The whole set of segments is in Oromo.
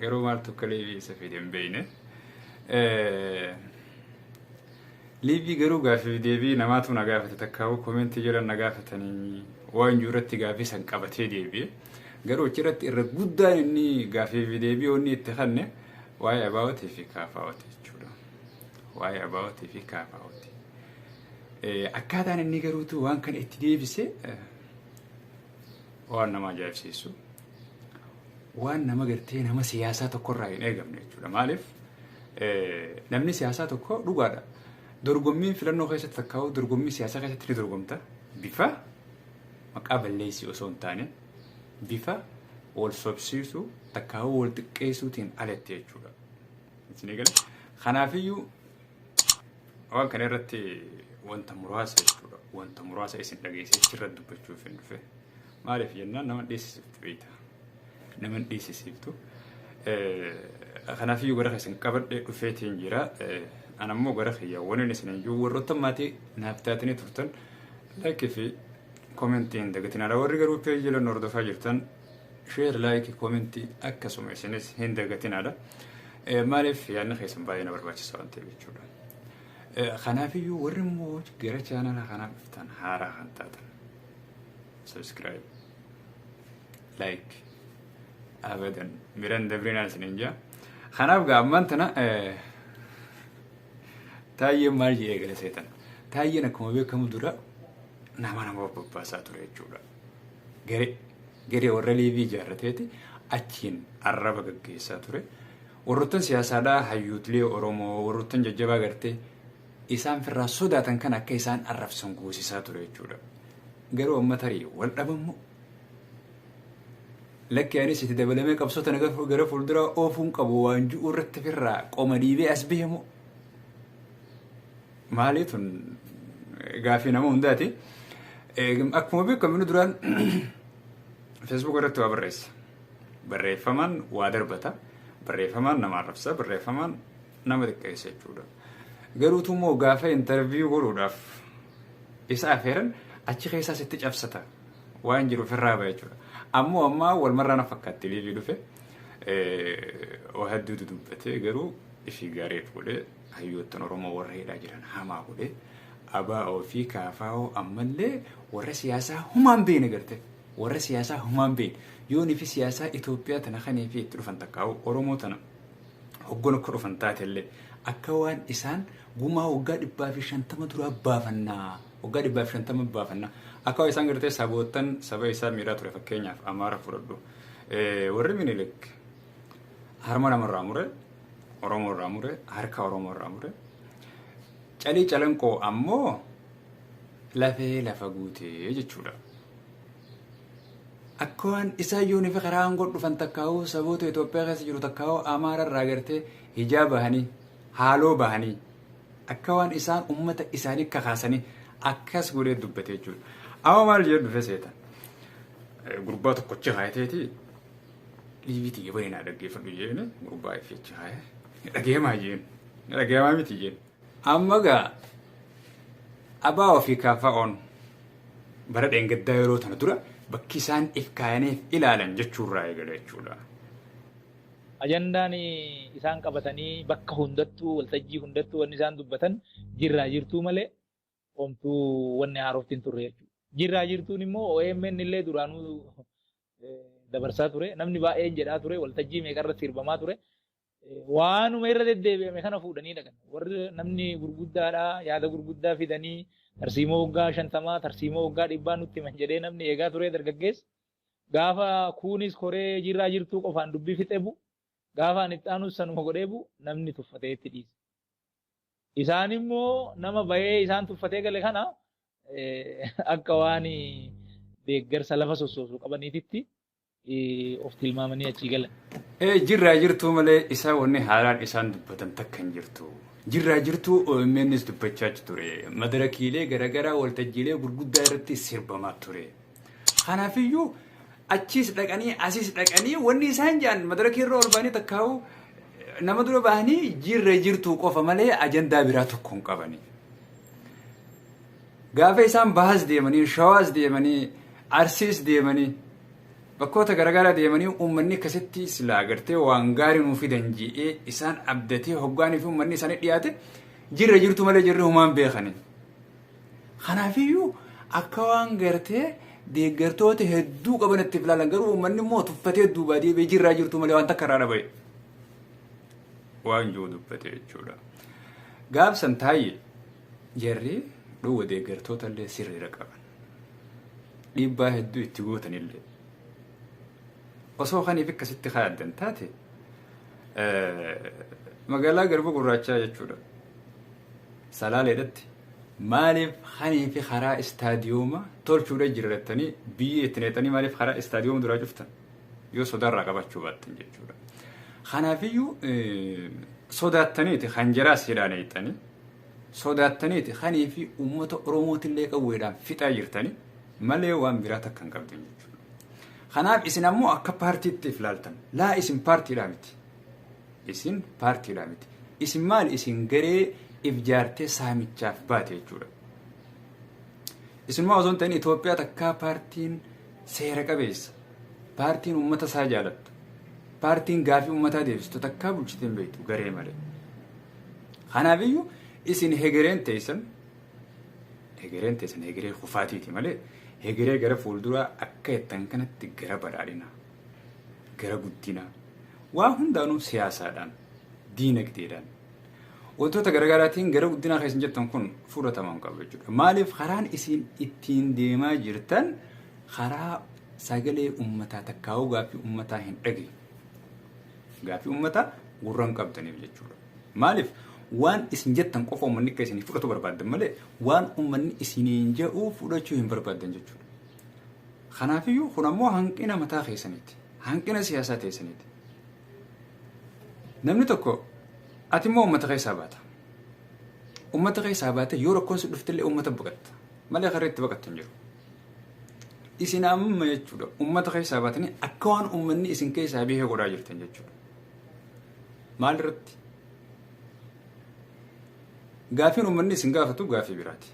Garuu maal tokko liivii isa fide hin beekne. Liivii garuu gaafii deebii namaatu na gaafate takkaawuu komentii jala na gaafatanii waan jiru irratti gaafii san qabatee deebi'e. Garuu achirratti irra guddaan inni gaafii fi deebii inni itti kanne waa'ee abaawwatii fi kaafaawwatii jechuudha. Waa'ee abaawwatii fi kaafaawwatii. Akkaataan inni garuutu waan kana itti deebise waan nama ajaa'ibsiisu. waan nama gartee nama siyaasaa tokkorraa hin eegamne jechuudha. Maaliif namni siyaasaa tokko dhugaadha. Dorgommiin filannoo keessatti fakkaa'u dorgommii siyaasaa keessatti ni dorgomta. Bifa maqaa balleessii osoo hin taane bifa wal sobsiisuu takkaawuu wal xiqqeessuutiin alatti jechuudha. Isin eegale. Kanaafiyyuu waan kana irratti wanta muraasa jechuudha. Wanta muraasa isin dhageessee irratti dubbachuuf hin dhufe. Maaliif jennaan nama dheessisiftu beekta. Nama hin dheessisiftu. Kanaafiyyuu gara keessan qabadhee dhufeetiin jira. An ammoo gara kiyya waliin isin iyyuu warroota maatii naaf taatanii turtan laayikii fi koomentii hin dagatin. Ala warri garuu peejii lan hordofaa jirtan sheer laayikii koomentii akkasuma isinis hin dagatin ala. Maaliif yaadni keessan baay'ee na barbaachisa waan ta'eef jechuudha. Kanaafiyyuu warri immoo gara chaanala kanaa dhuftan haaraa kan taatan. subscribe like abadan miran dabrinaa isinin jaa kanaaf gaa ammaan tana eh, taayyeen maal jee eegale seetan taayyeen akkuma beekamu dura nama nama of babbaasaa ture jechuudha garee garee warra liivii ijaarrateeti achiin arraba gaggeessaa ture warroottan siyaasaadhaa hayyuutlee oromoo warroottan jajjabaa gartee isaan firraa sodaatan kan akka isaan arrabsan goosisaa ture jechuudha. Garuu amma tarii wal dhabammoo lakki anis itti dabalamee qabsoo tana gara gara fuulduraa oofuun qabu waan ji'u irratti firraa qoma dhiibee as beemoo. Maalii tun gaaffii nama hundaati. Eegum- Akkuma beekamu inni duraan Facebook irratti waa barreessa. Barreeffamaan waa darbata. Barreeffamaan nama arrabsa. Barreeffamaan nama xiqqeessa jechuudha. Garuu tumoo gaafa interview godhuudhaaf isa afeeran achi keessaa sitti cabsata waan jiru ofirraa ba'a jechuudha. Ammoo ammaa wal marraa na fakkaatti liivii dhufe waa hedduu dudubbatee garuu ishii gaariif godhee hayyoottan Oromoo warra hidhaa jiran hamaa godhee abaa'oo fi kaafaa'oo ammallee warra siyaasaa humaan beene garte warra siyaasaa humaan beene yoonii fi siyaasaa Itoophiyaa tana kanii fi itti dhufan takkaa'u Oromoo tana hoggana akka dhufan taatellee akka waan isaan gumaa waggaa dhibbaa fi shantama duraa baafannaa waggaa dhibbaa fi shantama baafannaa akka waan isaan gartee saboottan saba isaa miidhaa ture fakkeenyaaf amaara fudhadhu warri minilik harma namarraa mure oromoo irraa mure harka oromoo irraa mure calii calanqoo ammoo lafee lafa guutee jechuudha. Akka waan isaayyoon fi karaa aangoo dhufan takkaa'uu saboota Itoophiyaa keessa jiru takkaa'uu Amaara irraa agartee hijaa bahanii haaloo bahanii akka waan isaan uummata isaanii kakaasanii akkas godhee dubbate jechuudha. Amma maal jedhu dhufe seeta? Gurbaa tokkochi haayateeti liiviiti yoo baay'inaa dhaggeeffadhu jeeni gurbaa ifiichi haaya dhageemaa jeeni dhageemaa miti jeeni. Amma gaa abaa ofii kaafaa'oon bara dheengaddaa yeroo tana dura bakki isaan if kaayaniif ilaalan jechuurraa eegale jechuudha. Ajandaan isaan qabatanii bakka hundattuu waltajjii hundattuu wanni isaan dubbatan jirraa jirtuu malee omtuu wanni haarofti hin turre jechuudha. Jirraa jirtuun immoo OMN illee duraanuu dabarsaa ture. Namni baay'een jedhaa ture waltajjii meeqa irratti sirbamaa ture. waanuma irra deddeebi'ame kana fuudhanii dhaqan. Warri namni gurguddaadha yaada gurguddaa fidanii tarsiimoo waggaa shantamaa tarsiimoo waggaa dhibbaa nutti himan jedhee namni eegaa turee dargaggeessa. Gaafa kuunis koree jirraa jirtuu qofaan dubbii fixee bu'u. Gaafa ani itti aanus sanuma godhee bu'u namni tuffatee itti dhiise. Isaan immoo nama bahee isaan tuffatee gale kana akka waan deeggarsa lafa sossoosu qabaniititti of tilmaamanii achii galan. Ee jirraa jirtuu malee isaa wanni haalaan isaan dubbatan takka hin jirtu. Jirraa jirtuu OMNs dubbachaa achi ture. Madarakiilee garaagaraa waltajjiilee gurguddaa irratti sirbamaa ture. Kanaafiyyuu achiis dhaqanii asiis dhaqanii wanni isaan jedhan madarakii irra ol ba'anii takkaa'u nama dura ba'anii jirra jirtuu qofa malee ajandaa biraa tokko hin qabani. Gaafa isaan Bahas deemanii, Shawaas deemanii, Arsiis deemanii, bakkoota garagaraa deemanii uummanni akkasitti silaa gartee waan gaarii nuu fidan ji'ee isaan abdatee hoggaanii fi uummanni isaanii dhiyaate jirra jirtu malee jirri humaan beekanii. Kanaafiyyuu akka waan gartee deeggartoota hedduu qaban itti filaalan garuu uummanni immoo tuffatee duubaa deebi'ee jirraa jirtu malee waan takka irraa dhaba'e. Waan jiru dubbate jechuudha. Gaafsan taayye. Jarri dhowwa deeggartoota illee sirriira qaban. Dhiibbaa hedduu itti gootan illee. Osoo kaniif akkasitti kaayaddan taate magaalaa garba gurraachaa jechuudha. Salaaleedhatti maaliif kanii fi karaa istaadiyooma tolchuudha jirrattanii biyyee itti neexanii maaliif karaa istaadiyooma duraa cuftan? Yoo sodaarraa qabachuu baattan jechuudha. Kanaafiyyuu sodaattaniiti kan jaraas hidhaan eettanii sodaattaniiti kanii fi uummata Oromootillee qawweedhaan fixaa jirtanii malee waan biraa takka hin qabdan jechuudha. Kanaaf isin ammoo akka paartiitti if laaltan. Laa isin paartiidhaa miti. Isin paartiidhaa miti. Isin maal isin garee if jaartee saamichaaf baate jechuudha. Isinuma osoo hin ta'in Itoophiyaa takkaa paartiin seera qabeessa, paartiin uummata isaa jaalattu, paartiin gaafii uummataa deebistu takkaa bulchitee hin beektu garee malee. Kanaafiyyuu isin hegereen teessan hegereen teessan hegeree kufaatiiti malee hegeree gara fuulduraa akka jettan kanatti gara badhaadhinaa, gara guddinaa, waa hundaanuu siyaasaadhaan, diinagdeedhaan, Wantoota garaagaraatiin gara guddinaa keessan jettan kun fudhatama hin qabu jechuudha. Maaliif karaan isin ittiin deemaa jirtan karaa sagalee uummataa takkaa'uu gaaffii uummataa hin dhageenye. Gaaffii uummataa gurra hin qabdaniif jechuudha. Maaliif waan isin jettan qofa uummanni akka isin fudhatu barbaaddan malee waan uummanni isiniin jedhu fudhachuu hin barbaaddan jechuudha. Kanaafiyyuu kun ammoo hanqina mataa keessaniiti. Hanqina siyaasaa keessaniiti. Namni tokko ati immoo uummata keessaa baata. Uummata keessaa baatee yoo rakkoon si dhuftillee uummata baqatta. Malee karra itti baqattu hin jiru. Isin amma jechuudha uummata keessaa baatanii akka waan uummanni isin keessaa biyya godhaa jirtan jechuudha. Maal irratti? Gaafiin uummanni isin gaafatu gaafii biraati.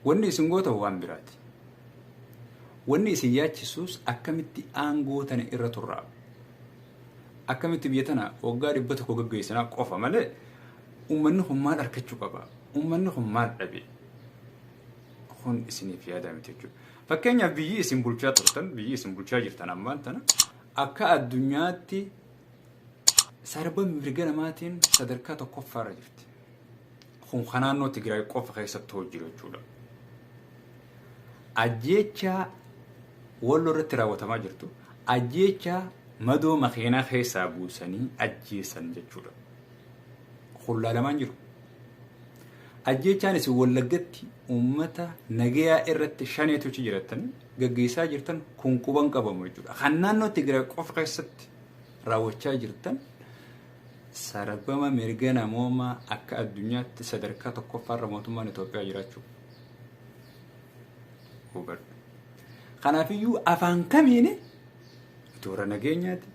Wanni isin gootan waan biraati. Wanni isin yaachisus akkamitti aangoo tana irra turraa? Akkamitti biyya tana waggaa dhibba tokko gaggeessinaa qofa malee uummanni kun maal arkachuu qaba? Uummanni kun maal dhabe? Kun isiniif yaadaa miti jechuudha. Fakkeenyaaf biyyi isin bulchaa turtan, biyyi isin bulchaa jirtan ammaan tana akka addunyaatti sarba mirga namaatiin sadarkaa tokkoffaarra jirti. Kun kan naannoo Tigraay qofa keessatti hojii jiru jechuudha. Ajjeechaa walloo irratti raawwatamaa jirtu ajjeechaa madoo makiinaa keessaa buusanii ajjeessan jechuudha. Kun laalamaan jiru. Ajjeechaan isin wallaggatti uummata nagayaa irratti shaneetu achi jirattan gaggeessaa jirtan kun quban qabamu jechuudha. Kan naannoo Tigraay qofa keessatti raawwachaa jirtan Sarbama mirga namoomaa akka addunyaatti sadarkaa tokkoffaarra mootummaan Itoophiyaa jiraachuu hubadhu. Kanaafiyyuu afaan kamiin itti warra nageenyaati,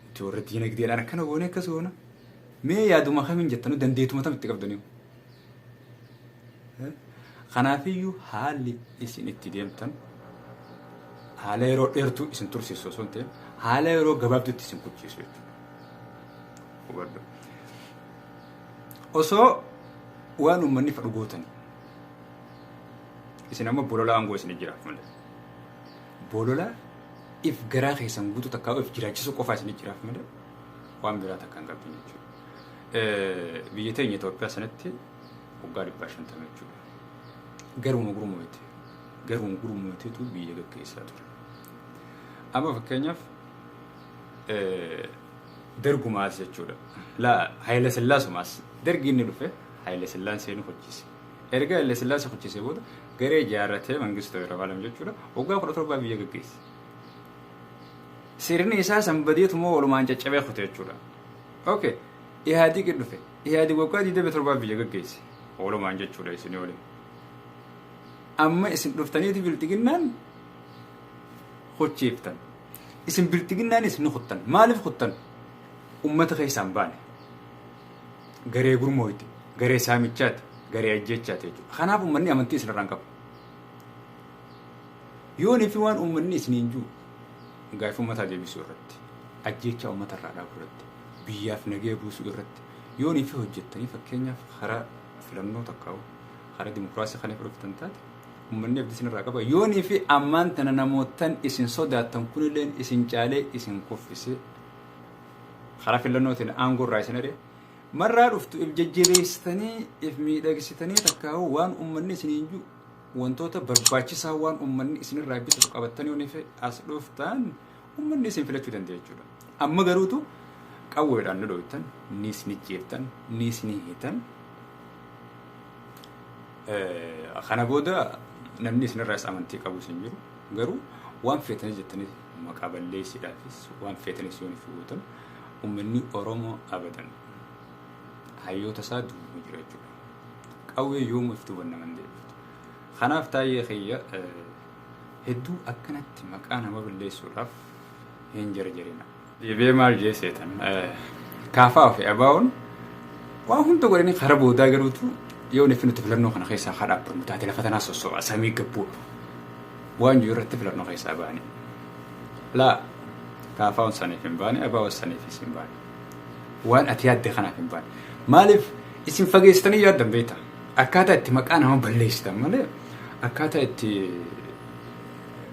itti warra diinagdeedhaan akkana goone akkas goona. Mee yaaduma kamiin jettanu dandeetuma tam itti qabdanii? Kanaafiyyuu haalli isin itti deemtan haala yeroo dheertuu isin tursiisu osoo hin ta'in haala yeroo gabaabduutti isin kuchiisu jechuudha. Osoo waan uummanni fedhu gootanii isin amma bolola aangoo isin jiraaf malee bolola if garaa keessan guutuu takkaa if jiraachisuu qofaa isin jiraaf malee waan biraa takka hin qabdu jechuudha. Biyya teenya Itoophiyaa sanatti waggaa dhibbaa shantama jechuudha. Garuma gurmuuti. Garuma gurmuutiitu biyya gaggeessaa ture. Amma fakkeenyaaf dargumaas jechuudha. Laa Haayila Sillaasumaas dargi inni dhufe Haayila Sillaaseen hojjise. Erga Haayila Sillaasee hojjisee booda garee ijaarratee Mangistoo Yerafaalam jechuudha waggaa kudha torbaa biyya gaggeesse. Sirni isaa sanbadeetu moo walumaan caccabee kute jechuudha. ok ihaadiqi dhufe ihaadiq waggaa 27 biyya gaggeesse oolumaan jechuudha isin oole amma isin dhuftaniiti bilxiginnaan hochiiftan isin bilxiginnaanis ni kuttan maaliif kuttan ummata keessaan baane garee gurmooyti garee saamichaati garee ajjeechaati jechuudha kanaaf ummanni amantii isinirraan qaba yoonii fi waan ummanni isiniin jiru Gaaffii ummataa deebisuu irratti, ajjeechaa ummata irraa dhaabuu irratti, biyyaaf nagaya buusuu irratti yoo ni fi hojjettanii fakkeenyaaf karaa filannoo takkaa'u karaa dimokiraasii kan fudhatan taate ummanni abdii isin irraa qaba yoo ni fi ammaan tana namoottan isin sodaattan kunilleen isin caalee isin kuffisee karaa filannootiin aangoo irraa isin adhe marraa dhuftu if jajjabeessitanii if miidhagsitanii takkaa'u waan ummanni isiniin jiru Wantoota barbaachisaa waan uummanni isinirraa bitatu qabattanii yoo nife as dhuftan uummanni isin filachuu danda'a jechuudha. Amma garuutu qawweedhaan nu dhooytan, ni isin jeertan, ni isin hiitan. Kana booda namni isinirraas amantii qabus hin jiru. Garuu waan feetanii jettanii maqaa balleessiidhaafis waan feetanis yoo nifi gootan uummanni Oromoo abadan hayyoota isaa duuba jira jechuudha. Qawwee yoomuu ifti hubanna mandee. Kanaaf taayee kiyya hedduu akkanatti maqaa nama balleessuudhaaf hin jarjarina. Deebi'ee maal jee seetan kaafaa fi abaa'oon waa hunda godhanii karaa boodaa garuutu yoo nuti nuti filannoo kana keessaa haa dhaabbannu taate lafa tanaa sossoba samii gabbuu waan jiru irratti filannoo keessaa baane. Laa kaafaa'oon saniif hin baane abaa'oon saniifis hin baane. waan ati yaadde kanaaf hin baane. Maaliif isin fageessitanii yaaddan beekta? Akkaataa itti maqaa nama balleessitan malee akkaataa itti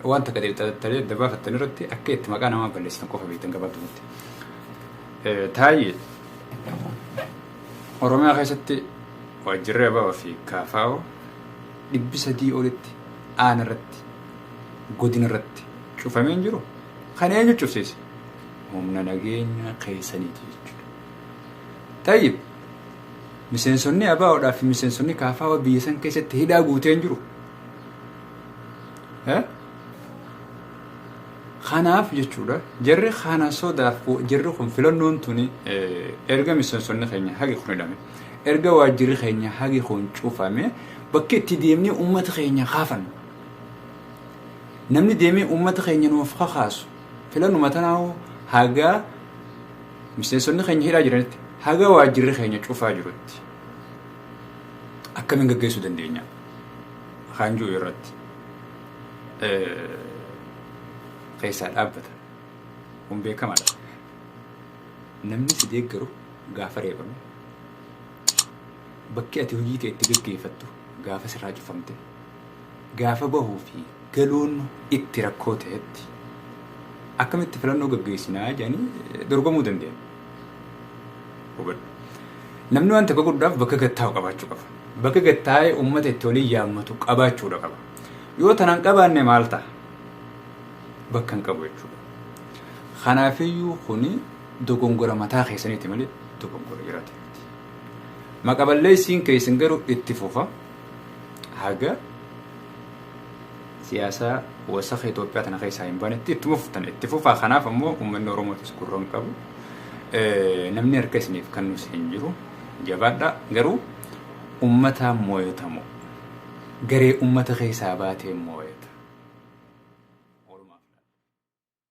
waan takka xixxattalee adda baafattan irratti akka itti maqaa namaa balleessitan qofa beektan gabaabdumatti. Taayye Oromiyaa keessatti waajjirri Ababa fi Kaafaa'o dhibbi sadii olitti aana irratti godina irratti cufamee hin jiru. Kan eenyu cufsiise? humna nageenya keessaniiti jechuudha. Tayyib miseensonni abaawoodhaa fi miseensonni kaafaawa biyya san keessatti hidhaa guutee hin jiru. Kanaaf jechuudha jarri kana sodaaf jarri kun filannoon tuni erga miseensonni keenya hagi kun hidhame erga waajjirri keenya hagi kun cufame bakki itti deemnee uummata keenya kaafannu namni deemee uummata keenya nuuf kakaasu Filanuma tanaa hoo haga miseensonni keenya hidhaa jiranitti haga waajjirri keenya cufaa jirutti akkamiin gaggeessuu dandeenya kan jiru irratti keessaa dhaabbata. Kun beekamaadha. Namni si deeggaru gaafa reebamu bakki ati hojii kee itti gaggeeffattu gaafa sirraa cufamte Gaafa bahuu fi galuun itti rakkoo ta'etti akkamitti filannoo gaggeessinaa jedhanii dorgomuu danda'an. Hubadhu. Namni waan tokko godhuudhaaf bakka gattaa'u qabaachuu qaba. Bakka gattaa'ee uummata itti waliin yaammatu qabaachuudha qaba. Yoo tanaan qabaanne maal ta'a? Bakka hin qabu jechuudha. Kanaafiyyuu kuni dogongora mataa keessaniiti malee dogongora jiraate miti. Maqa balleessiin keessan garuu itti fufa. haga siyaasa wasaka Itoophiyaa tana keessaa hin baanetti ittuma fuftan itti fufaa kanaaf ammoo uummanni Oromootis gurra hin qabu namni harka isiniif kennus hin jiru jabaadha garuu uummataan mooyatamu garee uummata keessaa baatee mooyata.